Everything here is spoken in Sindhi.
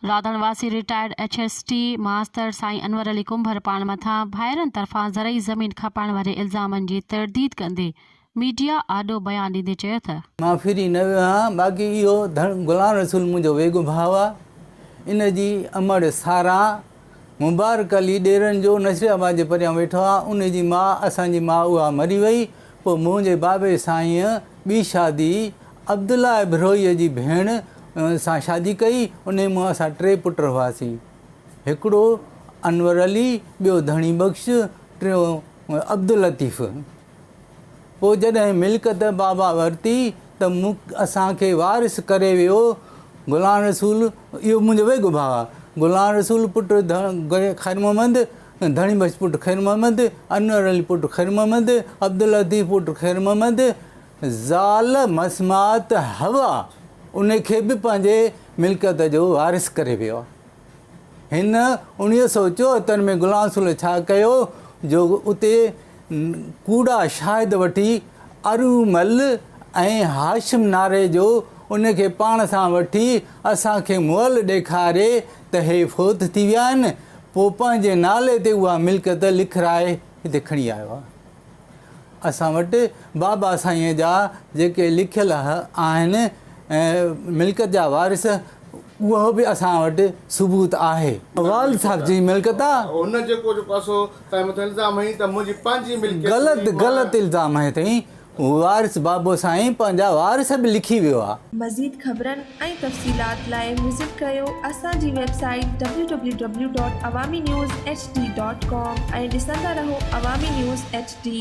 رادڻ واسي retired H S T master سائين انور علي ڪنڀر پاڻ مٿان ڀائرن طرفان زرعي زمين کپائڻ واري الزامن جي ترديد ڪندي ميڊيا آڏو بيان ڏيندي چيو تھ. مان ڦري نھ ويو آھيان، باقي اھو ڌڻ غلام رسول منھنجو ويڳو ڀاء آھي، ان جي امڙ ساراھان مبارڪ علي ڏيرن جو نصير آباد جي پريان ويٺو آھي، ان جي ماء اسان جي ماء اھا مري وئي، پوء منھنجي بابي سائينء ٻي شادي عبدالله ابھروھيء جي ڀيڻ سان شادي ڪئي، انھيء مان اسان ٽي پٽ ھئاسين، ھڪڙو انور علي، ٻيو ڌڻي بخش، ٽيون عبداللطيف. پوء جڏهن ملڪت بابا ورتي ته اسان کي وارث ڪري ويو گلان رسول، اهو منهنجو ويڳو ڀاء گلان رسول پٽ خيرمحمد، ڌڻي بخش پٽ خيرمحمد، انور علي پٽ خيرمحمد، عبداللطيف پٽ خيرمحمد، زال مسمات حوا ان کي به پنهنجي ملڪت جو وارث ڪري ويو. هن اڻيهه سؤ چوهتر ۾ غلام رسول الله ڇا ڪيو جو اتي ڪوڙا شاهد وٺي ارومل ۽ هاشم ناري جو ان کي پاڻ سان وٺي اسان کي مئل ڏيکاري ته هي فوت ٿي ويا آهن پوء پنهنجي نالي تي اها ملڪيت لکرائي هتي کڻي آيو آهي. اسان وٽ بابا سائينء جا جيڪي لکيل آهن ملڪيت جا وارث اهو به اسان وٽ ثبوت آهي. والد صاحب جي ملڪيت آ. هن جيڪو جيڪو اسو تنهنجي مٿان الزام هنئي ته منهنجي پنهنجي ملڪيت هئي. غلط غلط الزام هنئي اٿئي. وارث بابو سائين پنهنجا وارث به لکي ويو آ. مزيد خبرن. ۽ تفصيلات لاء وزٽ ڪريو اسان جي website W W W dot Awami news H D dot com ۽ ڏسندا رهو عوامي نيوز ايڇ ڊي.